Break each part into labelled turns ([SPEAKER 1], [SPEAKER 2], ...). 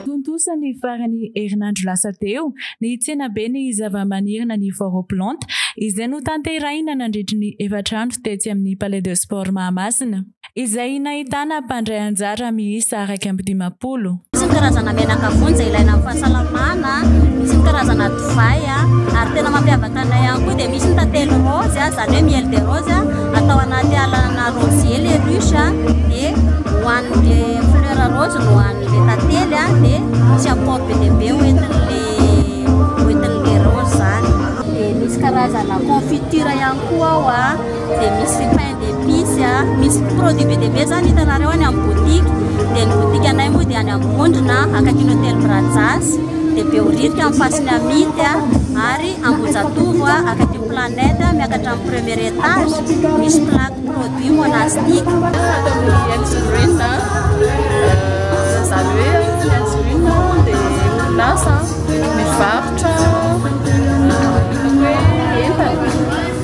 [SPEAKER 1] Tontosa ny faran'ny herinandro lasa teo ny tsenaben'ny zavamaniry Nani Foro Plante izay notanterahina nandritry ny efatra andro tetsy amin'ny Palais de Sport Mahamasina, izay nahitana mpandray anjara miisa iraika amby dimampolo. Misy ny karazana
[SPEAKER 2] menaka vonjy izay ilaina amin'ny fahasalamana, misy ny karazana divay ary tena mampiavaka anay ihany koa dia misy ny tantely rose izany hoe miel de rose atao anaty alana rosier les ruches dia hohanin'ilay fleur rose no hohanin'ilay tantely dia misy apport be dia be hoentin'ilay rose izany. Dia misy karazana confiture ihany koa ao. dia misy pain d'épice a, misy produit be dia be zany hitanareo any amin'ny boutique, dia ny boutique anay moa dia any amin'ny Vondrona akaikin'ny hotely Brazas, dia Behoririka amin'ny Pasy Miamity a, ary Ambohijatovo a, akaikin'ny Planète a, miakatra amin'ny premier étage, misy plaque produit monastique. Ato amin'ny Health Green a,
[SPEAKER 3] izany hoe ny Health Green a dia orinasa mivarotra hoe entana.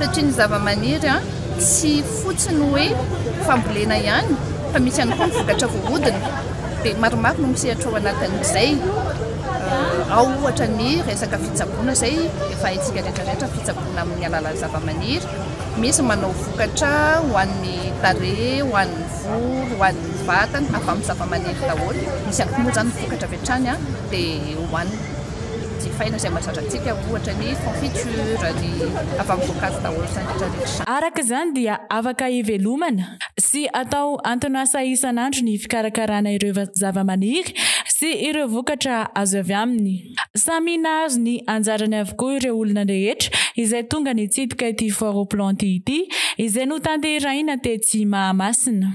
[SPEAKER 1] Satria
[SPEAKER 4] ny zavamaniry tsy fotsiny hoe fambolena ihany fa misy ihany koa ny vokatra voahodina dia maromaro no misehatra ao anatin'izay. Ao ohatra ny resaka fitsaboana izay efa haintsika rehetra rehetra fitsaboana amin'ny alalan'ny zavamaniry. Misy manao vokatra ho an'ny tarehy, ho an'ny volo, ho an'ny vatana avy amin'ny zavamaniry daholo. Misy ihany koa moa izany vokatra avy hatrany dia hohanina. jifaina izay mazatra antsika ohatra ny confiture, ny avamim-boankazo daholo izany rehetra rehetra. Araka izany dia
[SPEAKER 1] afaka hivelomana sy atao anton'asa isan'andro ny fikarakarana ireo zavamaniry sy ireo vokatra azo avy aminy. Samy nahazo ny anjarany avokoa ireo olona rehetra izay tonga nitsidika ity foire aux plantes ity izay notanterahina tetsy Mahamasina.